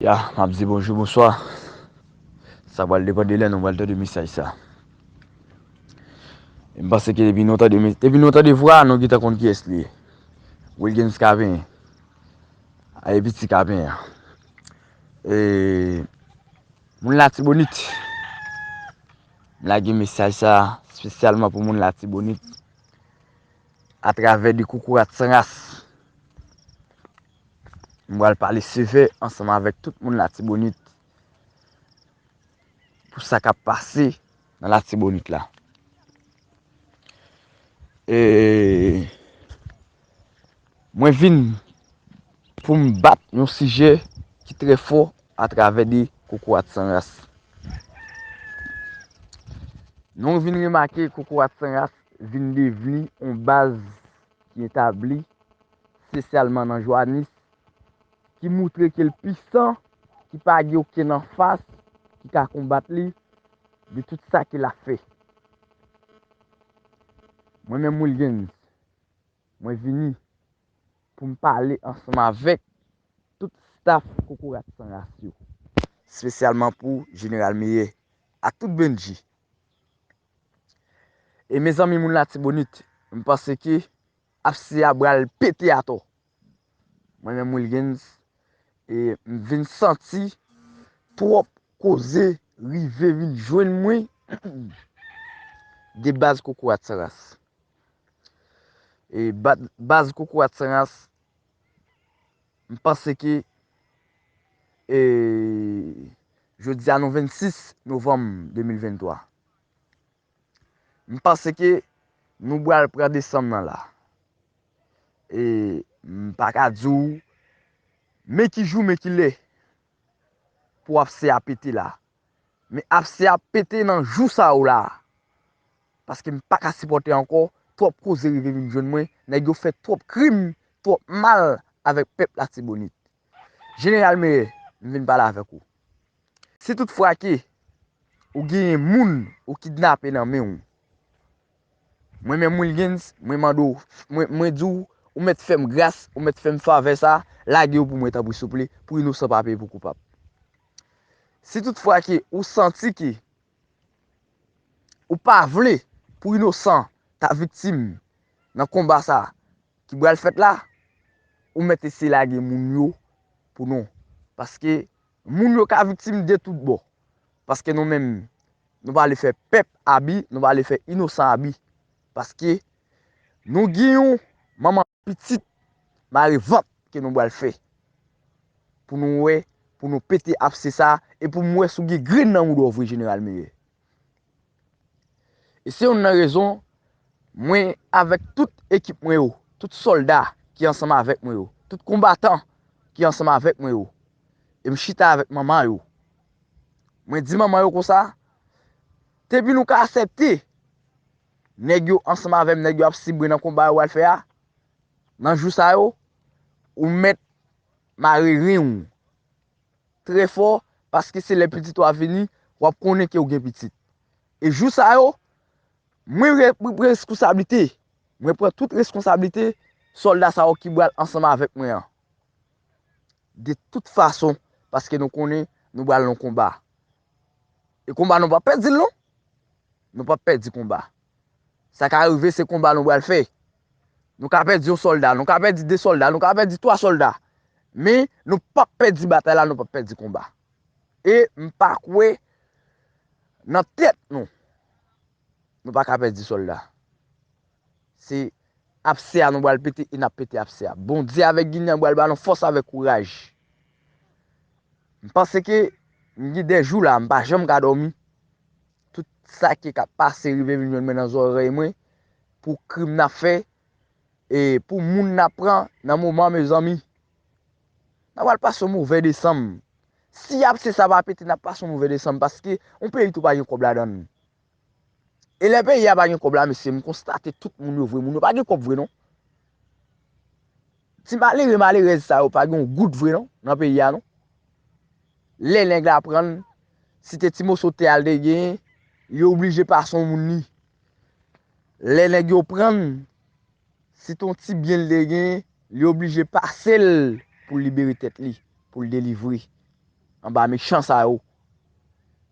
Ya, m ap di bonjou bonswa. Sa pral depann de lè nou pral tande mesaj sa. M panse ke depi nou tande mes, depi nou tande vwa a nou gentan konn kiyès li ye. Wilgens Caven. A e piti Caven an. E moun Latibonit. M lage mesaj sa spesyalman pou moun Latibonit. A travè de koukourat san ras. M pral pale sevè ansanm avèk tout moun Latibonit pou sa k ap pase nan Latibonit la. E mwen vin pou m bat yon sijè ki trè fò atravè de kokorat san ras. Nou vin remake kokorat san ras vin devni yon baz. ki etabli spesyalman nan Joanis, ki moutre ke l pisan, ki pa gen okenn anfas ki ka konbat li de tout sa ke l ap fè. Mwen menm Wilguens, mwen vini pou m pale ansanm avèk tout staf Kokorat San Ras yo, spesyalman pou Jeneral Meyè ak tout Bndji E mezanmi moun latibonit m panse ke apse a bral pete atò mwen menm wilguens e m vin santi twòp koze rive vin jwenn mwen de baz kokorat san ras e baz kokorat san ras M panse ke e jodi a nou 26 novanm 2023. M panse ke nou bwal pran desanm nan la. E m pa ka di w men ki jou men ki lè pou ap CAPT la. Men apse ap pete nan jou sa yo la. Paske m pa ka sipòte ankò, twòp koze rive vin jwenn mwen, nèg yo fè twòp krim, twòp mal avèk pèp Latibonit. Jeneral Meyè, m vin pale avèk ou. Si tout fwa ke ou genyen moun ou kidnape nan men ou, mwen menm Wilguens, mwen mande ou, mwen di ou, ou mèt fè m gras, ou mèt fè m favè sa, lage yo pou mwen tanpri souple, pou inosan pa peye pou koupab. Si tout fwa ke ou santi ke ou pa vle pou inosan ta viktim nan konba sa ki bral fèt la, ou mèt eseye lage moun yo pou nou. Paske moun yo ka viktim de tout bò. Paske nou menm, nou pa vle fè pèp abi, nou pa vle fè inosan abi. Paske nou gen yon manman. Pitit mare vant ke nou bal fè pou nou wè pou nou pete apse sa e pou m wè si w gen grenn nan moudon w vre jeneral Meyè. E se youn nan rezon mwen avèk tout ekip mwen yo, tout sòlda ki ansanm avèk mwen yo, tout konbatan ki ansanm avèk mwen yo e m chita avèk manman yo. Mwen di manman yo konsa, depi nou ka asèpte Nèg yo ansanm avè m nèg yo ap sibre nan konba yo pral fè a nan jou sa yo ou mèt mare ren w trè fò paske se lè pitit ou a vini w ap konnen ke ou gen pitit e jou sa yo mwen pran reskonsablite mwen pran tout reskonsablite sòlda sa yo ki pral ansanm avèk mwen an de tout fason paske nou konnen nou pral nan konba E konba nou pap pèdil non. Nou pap pèdi konba. Sa ka rive se konba nou bal fè. Nou ka pèdi yon solda, nou ka pèdi 2 solda, nou ka pèdi 3 solda. Men nou pap pèdi batay la, nou pap pèdi konba. E m pa kwè nan tèt nou. Nou pa ka pèdi solda. Se apse a nou bal pete e nap pete apse a. Bondye avek ginen an bal ba nou fos avek kouraj. M panse ke m gen de jou la m pa janm ka domi. Tout sa ki kap pase rive vin jwenn mwen nan zorey mwen. Pou krim nap fe. E pou moun nap pran nan moman mezanmi. Nap bal pase yon move desanm. Si apse sa pa pete nap pase yon move desanm. Paske yon peyi tou pa gen kob ladan. E lè peyi a pa gen kòb la mesye m konstate tout moun yo vre moun yo pa gen kòb vre non. Ti malere malerèz sa yo pa gen yon goud vre non nan peyi a non. Lè nèg la pran si te ti moso tè al te gen li oblije pase yon moun li. Lè nèg yo pran Si t on ti byen l te gen, li oblije pase l pou l libere tèt li, pou l delivre anba mechan sa yo.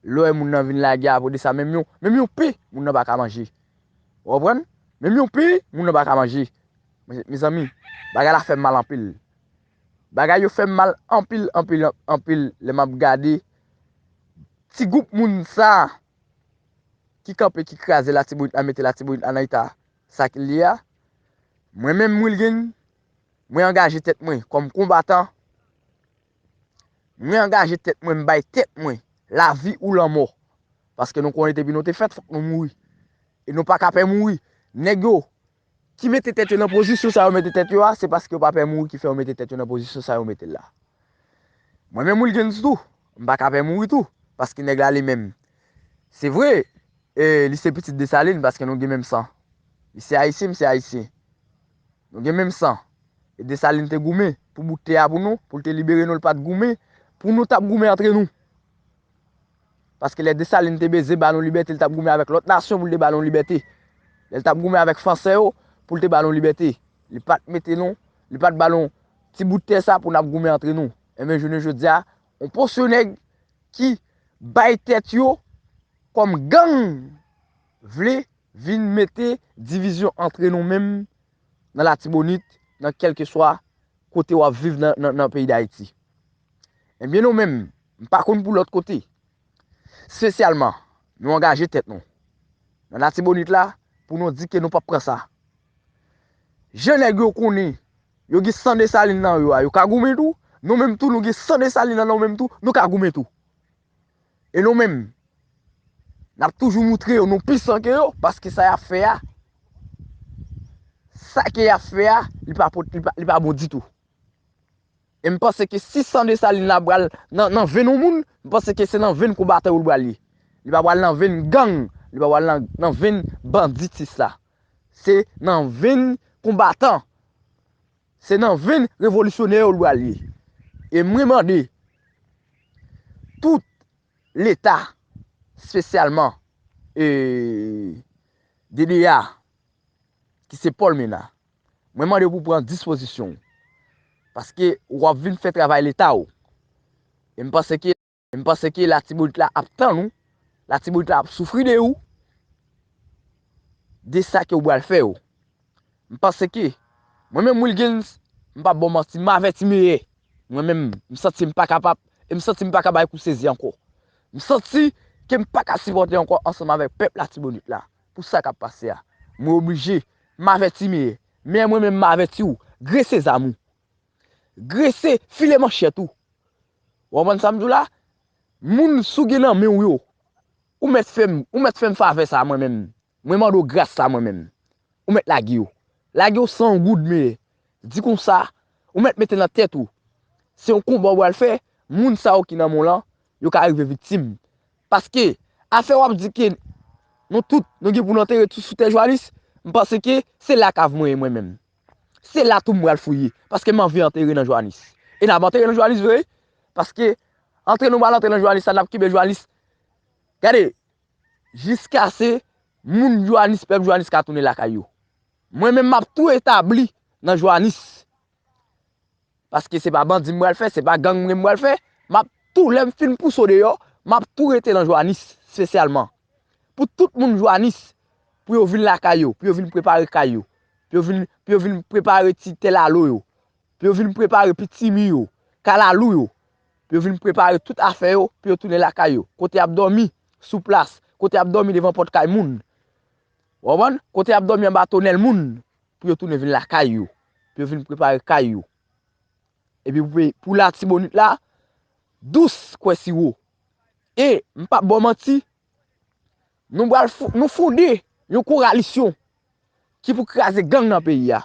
Lè moun nan vin lage apre de sa, menm yon, menm yon pen, moun nan pa ka manje. Ou konprann? Menm yon pen, moun nan pa ka manje. Mezanmi, bagay la fè m mal anpil. Bagay yo fè m mal anpil, anpil, anpil lè m ap gade ti gwoup moun sa a ki kanpe, ki kraze Latibonit la, mete Latibonit la nan eta Sa k li a? Mwen menm Wilguin, mwen angaje tèt mwen kòm konbatan, mwen angaje tèt mwen, m bay tèt mwen lavi ou lanmò, paske nou konnen depi nou te fèt fòk nou mouri, e nou pa ka pè mouri, nèg yo ki mete tèt yo nan pozisyon sa yo mete tèt yo a, se paske yo pa pè mouri ki fè yo mete tèt yo nan pozisyon sa yo mete la. Mwen menm Wilguens tou, m pa ka pè mouri tou, paske nèg la li menm. Se vre, li se pitit Desalin paske nou gen menm san. Li se Ayisyen, m se Ayisyen. Nou gen menm san. E Desalin te goumen pou bout tè a pou nou, pou l te libere nou, l pa t goumen pou nou t ap goumen antre nou. Paske lè Desalin te beze ba nou libète li t ap goumen avèk lòt nasyon pou l te ba nou libète. Lè l t ap goumen avèk Fransè yo pou l te ba nou libète. Li pa t mete nou, li pa t ba nou ti bout tè sa pou n ap goumen antre nou. Enben jounen jodi a, yon pòsyon nèg ki bay tèt yo kòm gang vle vin mete divizyon antre nou menm nan latibonit, nan kèlkeswa kote wap viv nan peyi dayiti. Ebyen nou menm, m pa konn pou lòt kote, spesyalman nou angaje tèt nou nan latibonit la pou nou di ke nou pap pran sa. Jan nèg yo konnen yo gen san Dessalines nan yo a, yo ka goumen tou, nou menm tou nou gen san Dessalines nan nou menm tou, nou ka goumen tou. E nou menm, n ap toujou moutre yo nou pisan ke yo, paske sa y ap fè a, sa ke y ap fè a, li pa pot, li pa bon ditou. E m panse ke si san Desalin la pral nan venn yon moun, m panse ke se nan venn konbatan yo li pral ye. Li pa pral nan venn gang, li pa pral nan venn banditis la. Se nan venn konbatan. Se nan venn revolisyonè yo l pral ye. E mwen mande tout leta spesyalman DDA ki se Paul Mena, mwen mande pou pran dispozisyon w. Paske w ap vin fè travay leta w. E m panse ke. M panse ke latibonit la ap tann ou, latibonit la ap soufri de ou, de sa ke ou bal fè yo. M panse ke, mwen menm Wilguens, m pap ba w manti, m avèti meyè. Mwen menm, m santi m pa kapab, e m santi m pa ka bay kou sezi ankò. M santi ke m pa ka sipòte ankò ansanm avèk pèp latibonit la, pou sa kap pase a. Mwen oblije, m avèti meyè. Meyè mwen menm m avèti ou, grese zam ou. Grese, file manchèt ou. Ou konprann sa m di w la? Moun si w gen nan men w yo, ou mèt fè m, ou mèt fè m favè sa a mwen menm. Mwen mande w gras sa a mwen menm. Ou mèt lage yo. Lage yo san goud mele. Di konsa, ou mèt mete nan tèt ou, se yon konba ou pral fè, moun sa yo ki nan men w lan, yo ka rive viktim. Paske, afè w ap di ke nou tout, nou gen pou nou antere tout sou tè Jwanis, m panse ke se la kav mwen ye mwen menm. Se la tou m pral fouye, paske m anvi antere nan Joanis. E n ap antere nan Joanis vre wi, paske antre nou pral antre nan Joanis la, n ap kenbe Joanis. Gade, jiskase moun Joanis, pèp Joanis ka tounen lakay yo. Mwen menm m ap tou etabli nan Joanis. Paske se pa bandi m pral fè, se pa gang mwen m pral fè, m ap tou lè m fin pouse w deyò, m ap tou rete nan Jwanis spesyalman. Pou tout moun Jwanis, pou yo vin lakay yo, pou yo vin prepare kay yo, pou yo vin, pou yo vin prepare ti tè lalo yo, pou yo vin prepare pitimi yo, kalalou yo, pou yo vin prepare tout afè yo, pou yo tounen lakay yo. Kote y ap dòmi, sou plas, kote y ap dòmi devan pòt kay moun. Ou konprann? Kote y ap dòmi anba tonèl moun. pou yo tounen vin lakay yo, pou yo vin prepare kay yo. Epi pou peyi, pou latibonit la, dous kwe siwo. E, m pap bo manti, nou bal fon, nou fonde yon koralisyon ki pou kraze gang nan peyi a.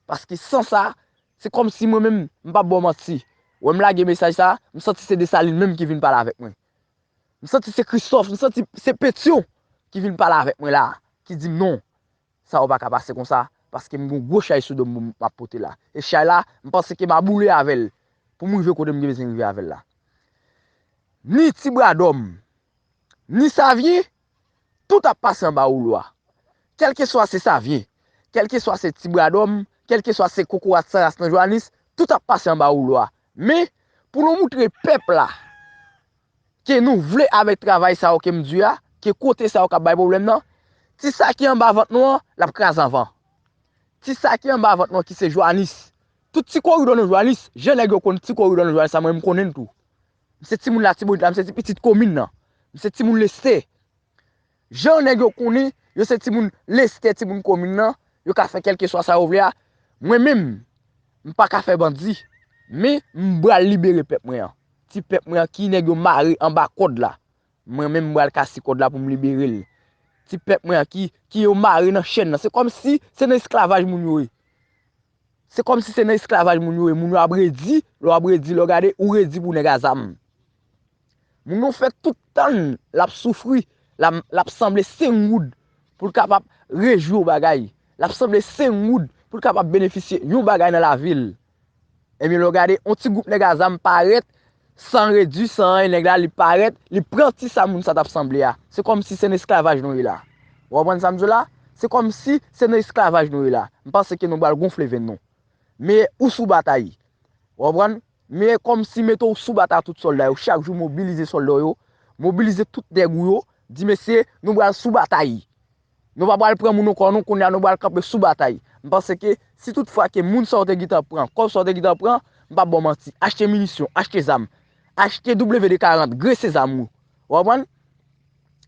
Paske san sa, se kom si mwen menm, m pap bo manti, wè m lage mesaj sa, m santi se Desalin menm ki vin pale avèk mwen. M santi se Kristof, m santi se Petyon ki vin pale avèk mwen la, ki di m non, Sa ou pa ka pase konsa, paske m gon gwo chay sou do m pou m ap pote la. E chay la, m panse ke m a boule avè l pou m rive kote m gen bezwen rive avè l la. Ni ti bra dò m, ni savye, tout ap pase anba woulo a. Kèlkeswa se savye, kèlkeswa se ti bra dò m, kèlkeswa se kokorat san ras nan Johannis, tout ap pase anba woulo a. Men, pou nou moutre pèp la. Ke nou vle avèk travay sa yo ke m di a, ke kote sa yo kap bay pwoblèm nan, ti sa ki anba vant nou an, lap kraze anvan. Ti sa ki anba vant nou an ki se Joanis, tout ti koridò nan Joanis, jan nèg yo konn ti koridò nan Joanis la mwen menm m konnen l tou. M se timoun Latibonit la, m se ti pitit komin nan. M se timoun Lestè. Jan nèg yo konnen yo se timoun Lestè, timoun komin nan, yo ka fè kèlkeswa sa yo vle a, mwen menm, m pa ka fè bandi, men m pral libere pèp mwen an. Ti pèp mwen an ki nèg yo mare anba kòd la, mwen menm m pral kase kòd la pou m libere l. Ti pèp mwen an ki yo mare nan chenn nan, se kòmsi se nan esklavaj moun yo ye. Se kòm si se nan esklavaj moun yo ye, moun yo ap redi, lè w ap redi, lè w gade, ou redi pou nèg a zam. Moun yo fè tout tan l, l ap soufri, l ap sanble sengoud pou l kapab rejwi yon bagay, l ap sanble sengoud pou l kapab benefisye yon bagay nan lavi l. Ebyen lè w gade, yon ti gwoup nèg a zam parèt, San redwi, san anyen nèg la li parèt, li pran ti sa moun sa t ap sanble a. Se kòmsi se nan esklavaj nou ye la. Ou konprann sa m di w la? Se kòmsi se nan esklavaj nou ye la. M panse ke nou pral gonfle venn nou. Men ou sou batay. Ou konprann? Men kòmsi mete w sou batay ak tout sòlda yo. Chak jou mobilize sòlda w yo. Mobilize tout nèg ou yo. Di mesye, nou pral sou batay. Nou pa pral pran moun nan kò nou, kounye a nou pral kanpe sou batay. M panse ke si tout fwa ke moun sa ou te gentan pran, kòb sa ou te gentan pran, m pap ba w manti, achte minisyon, achte zam, achte WD 40, grese zam ou. Ou konprann?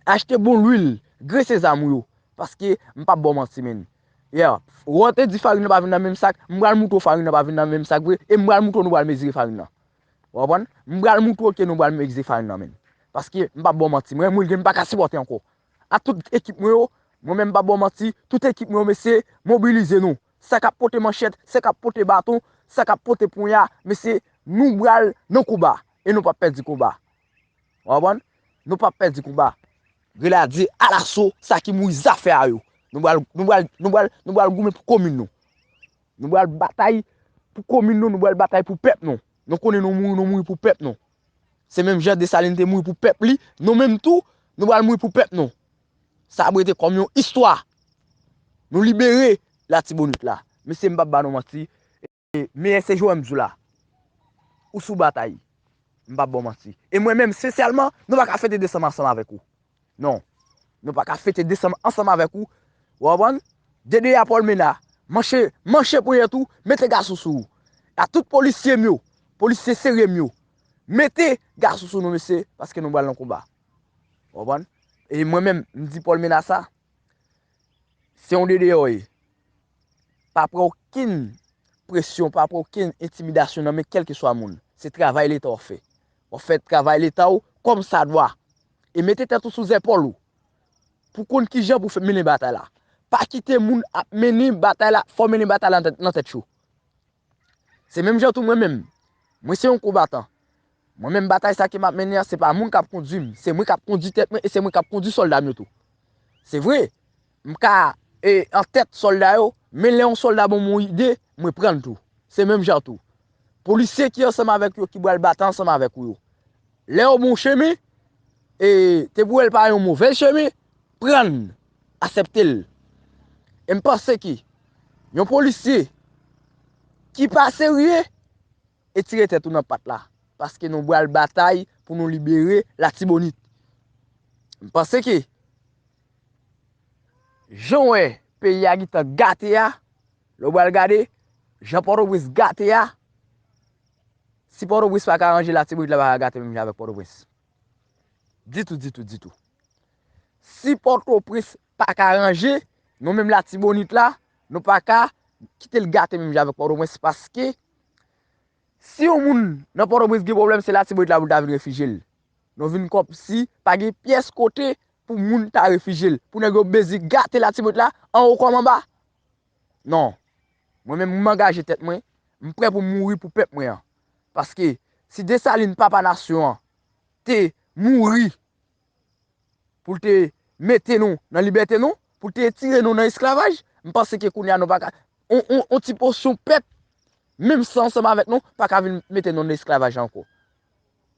Achte bon lwil, grese zam ou yo. Paske m pap ba w manti menn. Yeah, wè w te di farin nan pa vin nan menm sak, m pral moutre w farin nan pa vin nan menm sak vre, e m pral moutre w nou pral mezire farin nan. Ou konprann? M pral moutre w ke nou pral mezire farin nan menn. Paske m pap ba w manti, mwen gen m pa ka sipòte ankò. ak tout ekip mwen yo, mwen menm m pa ba w manti, tout ekip mwen yo mesye, mobilize nou. Sa k ap pote manchèt, sa k ap pote baton, sa k ap pote ponya, mesye, nou pral nan konba e nou p ap pèdi konba. Ou konprann? Nou p ap pèdi konba. Grenadye alaso, sa ki mouri zafè a yo. Nou pral, nou pral, nou pral, nou pral goumen pou komin nou. Nou pral batay pou komin nou, nou pral batay pou pèp nou. Nou konnen nou mouri, nou mouri pou pèp nou. Se menm jan Desalin te mouri pou pèp li, nou menm tou, nou pral mouri pou pèp nou. Sa ap rete kòm yon istwa. Nou libere Latibonit la. Mesye m pap ba nou manti, e meyè se Joèm Zoula. Ou sou batay. M pap ba w manti. E mwen menm, spesyalman, nou pa ka fete desanm ansanm avèk ou. Non. Nou pa ka fete desanm ansanm avèk ou. Ou konprann? Dede a Paulmena, manche, manche ponyèt ou, mete gason sou ou. A tout polisye m yo, polisye serye m yo, mete gason sou nou mesye, paske nou pral nan konba. Ou konprann? E mwen menm, m di Paulmena sa, se yon dede ou ye. Pa pran okenn presyon, pa pran okenn entimidasyon nan men kèlkeswa moun. Se travay leta w ap fè. W ap fè travay leta ou kòmsadwa. e mete tèt ou sou zèpòl ou pou konn kijan pou fè mennen batay la. Pa kite moun ap mennen batay la, fè w mennen batay la nan tèt cho. Se menm jan tou mwen menm, mwen se yon konbatan. Mwen menm batay sa ke m ap mennen an, se pa moun k ap kondui m, se mwen k ap kondui tèt mwen e se mwen k ap kondui sòlda m yo tou. Se vre, M ka an tèt sòlda yo, men lè yon sòlda ban mwen yon ide, mwen pran l tou. Se menm jan tou, polisye ki ansanm avèk yo ki pral batay ansanm avèk ou yo, lè yo ban w chemen, e te pou wè l pa yon movèz chemen, pran l, asèpte l. E m panse ke yon polisye ki pa serye, Etire tèt ou nan pat la, paske nou bwal batay pou nou libere latibonit. M panse ke, jan w wè peyi a gitan gate a, lè w bwal gade, jan pòtoprens gate a, si pòtoprens pa ka ranje latibonit la pa ka gate menm jan avèk pòtoprens. Ditou, ditou, ditou. Si pòtoprens paka ranje, nou menm Latibonit la, nou paka kite l gate menm jan avèk Pòtoprens paske si yon moun nan Pòtoprens gen pwoblèm se Latibonit la pou l ta vin refije l. Nou vin kòmsi pa gen pyès kote pou moun ta refije l, pou nèg yo bezi gate Latibonit la anwo kòm anba. Non, mwen menm m angaje tèt mwen, m prè pou m mouri pou pèp mwen an. Paske si Desalin papa nasyon an te mouri pou l te mete nou nan libète nou, pou l te etire nou nan esklavaj, m panse ke kounye a nou pa ka, yon ti pòsyon pèp, menm san ansanm avèk nou, pa ka vin mete nou nan esklavaj la ankò.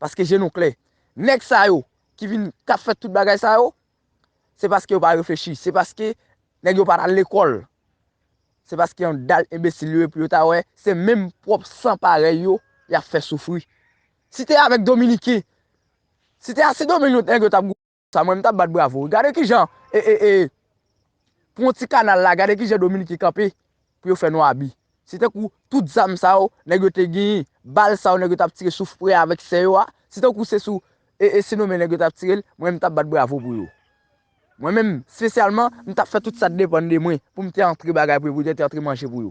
Paske je nou klè. Nèg sa yo, ki vin, k ap fè tout bagay sa yo, se paske yo pa reflechi, se paske nèg yo pa t al lekòl, se paske yon dal enbesil yo ye pou yo ta wè, se menm pwòp san parèy yo, y ap fè soufri. Si te avèk dominiken si te a sendomeng lot nèg yo tap goumen konsa mwen mtap bat bravo wi gade kijan e e e pou yon ti kanal la gade kijan dominiken kanpe pou yo fè nou abi se tankou tout zam sa yo nèg yo te genyen bal sa yo nèg yo tap tire sou frè avèk sè yo a se tankou se sou e e sendomeng nèg yo tap tirel mwen mtap bat bravo pou yo mwen menm spesyalman mtap fè tout sa t depann de mwen poum te antre bagay pou yo pou yo te antre manje pou yo.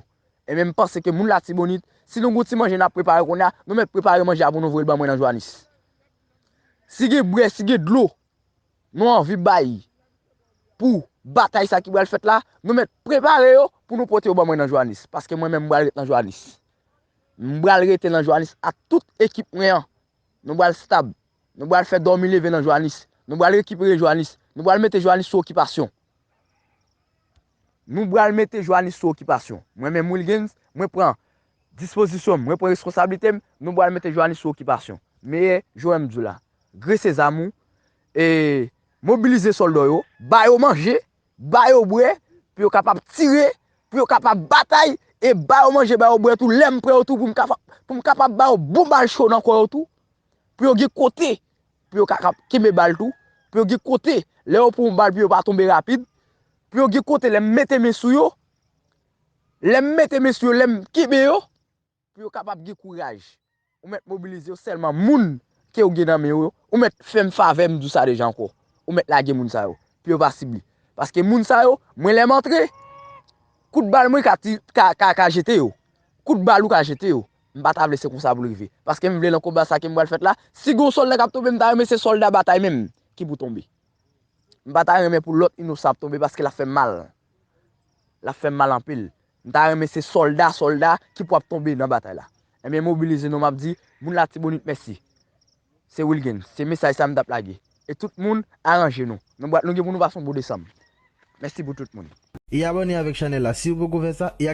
Enben m panse ke moun Latibonit, si nou gen yon ti manje nap prepare kounye a, nou mèt prepare manje a pou nou voye l ban mwen nan Jwanis. Si gen bre, si gen dlo, nou anvi bay pou batay sa ki pral fèt la, nou mèt prepare yo pou nou pote yo ban mwen nan Jwanis. Paske mwen menm m pral ret nan Jwanis. M pral rete nan Jwanis ak tout ekip mwen an. Nou pral stab. Nou pral fè dòmi leve nan Jwanis. Nou pral rekipere Jwanis. Nou pral mete Jwanis sou okipasyon. Nou bral mete Johannis sou okipasyon. Mwen menm Wilguens, mwen pran Dispozisyon m, mwen pran reskonsablite m, nou bral mete Johannis sou okipasyon. Meyè Joèm di w la, grese zam ou, e mobilize sòlda w yo, ba yo manje, ba yo bwè, pou yo kapab tire, pou yo kapab batay, e ba yo manje, ba yo bwè tou, lè m pran yo tou pou m kapab ba yo bon bal cho nan kò yo tou, pou yo gen kote. pou yo ka kenbe bal tou, pou yo gen kote lè yo pran yon bal pou yo pa tonbe rapid, pou yo gen kote lè m mete men sou yo, lè m mete men sou yo, lè m kenbe yo, pou yo kapab gen kouraj. Ou mèt mobilize yo sèlman moun ke ou gen nan men ou yo, ou mèt fè m favè m di w sa deja ankò, ou mèt lage moun sa yo, pou yo pa sib li. Paske moun sa yo, mwen lè m antre, kout bal mwen ka jete yo, kout bal ou ka jete yo, M pa ta vle se konsa pou l rive. Paske m vle lan konba sa ke m pral fèt la, si gon sòlda k ap tonbe m ta renmen se sòlda batay menm ki pou tonbe. M pa ta renmen pou lòt inosan ap tonbe paske l ap fè m mal. L ap fè m mal anpil. M ta renmen se sòlda sòlda ki pou ap tonbe nan batay la. Ebyen mobilize nou m ap di moun Latibonit mèsi. Se Wilguens. Se mesaj sa m t ap lage. E tout moun aranje nou. Nou pral nou gen pou nou pase yon bon desanm. Mèsi pou tout moun. E abòne avèk chanèl la si ou poko fè sa e.